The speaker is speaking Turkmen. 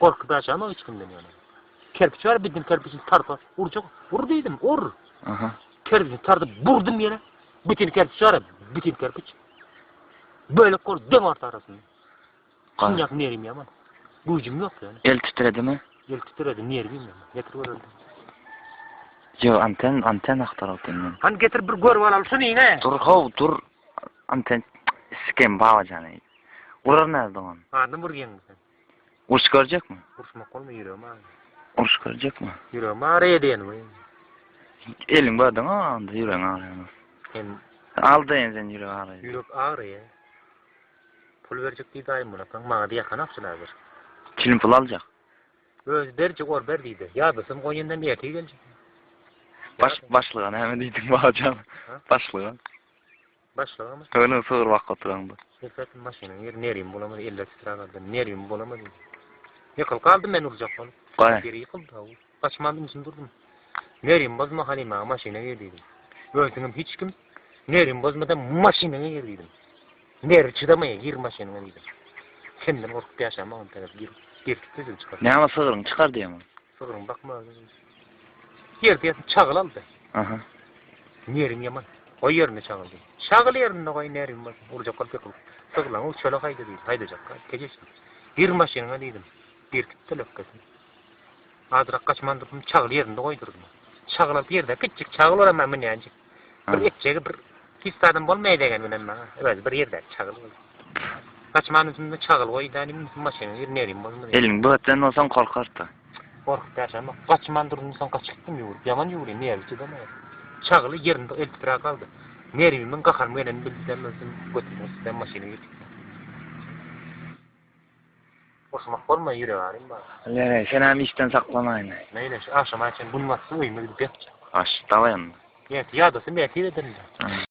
Gorkup ýaşamak hiç kimden ýöne. Kerpiç bar, bidin kerpiçini tarpa urjak. Ur diýdim, ur. Aha. Kerpiçini tardyp burdum ýere. Bitin kerpiç bar, bitin kerpiç. Bölek gol döň orta arasynda. Kynjak nerim ýaman. Güýjüm ýok ýöne. El titredimi? El titredi, nerwim ýaman. Getir göreli. Yo, anten, anten aktar otyn men. Han getir bir gör balaly şuny ýene. Dur how, dur. Anten sikem baba jany. Urar näzdi on. Adam urýan sen. Urşup görjekmi? Urşmak bolma ýüregim agyrýar. Urşup görjekmi? Ýüregim agyrýar diýen we. Eliň bardan onda ýüregiň agyrýar. Sen aldaýan sen ýürek agyrýar. Ýürek agyrýar. Pul berjek diýdi aýym bolakaň maňa diýýäkan akçylar bir. Kilim pul aljak. Özi berjek or ber diýdi. Ýadasym goýandan ertir geljek. Baş başlyga näme diýdiň bajaň? Başlyga. Başlygymyz. Öňe sygyr bakyp oturan bu. Serpet maşynyň ýeri nerýum bolamady, eller titrap aldy. Nerýum bolamady. Ýykylyp galdym men urjak bolup. Gaý. Ýeri ýykyldy haw. Gaçman ümsüm durdum. Nerýum bozma Halyma maşyna gir diýdim. Öýsüňem hiç kim. Nerýum bozmada maşynyňa gir diýdim. Nerwi çydamaýa gir maşynyňa diýdim. Kimden gorkup ýaşamagyň sebäp gir. Gir diýdim çykar. Näme sygyryň çykar diýemok. Sygyryň bakma. Ýerdeýesin çagyl aldy. Aha. Nerin ýaman. Goý ýerinde çagyl diýdi. Çagyl ýerinde goý nerin bolsun. Urjak bolup ýykylyp. Sygylaň uçala haýda diýdi. Haýdajakka tegeş. Gir maşynyňa diýdim. Berkitdi lökgesini. Azyrak gaçman dursun çagyl ýerinde goýdurdym. Çagyl alyp ýerde kiçjik çagyl olam münýänjik. Bir etjegi bir pis adam bolmaýa degen bilen maňa. Özi bir ýerde çagyl bol. Saçmany üstünde çagyl goý däli mi maşyny ýer nerim bolma. Elin böten bolsan gorkarta. Gorkup ýaşam. Gaçman durdum soň gaçyp gitdim ýüwürip. Ýaman ýüwürýän nerwi çydamaýan. Çagyly ýerinde eltipra galdy. Nerwimiň gaharymy gelen bildi däl özüm götürdüm üstüne maşyny ýetip. Oturmak bolmaý, ýürek arym bar. Ýöne, senem işden saklanaýmaý. Meýli, şu agşama çen gün batsa, öýüme gidip ýatjak. Aş, dawa ýanna. Ertir ýadasym bätiz ederin-dä.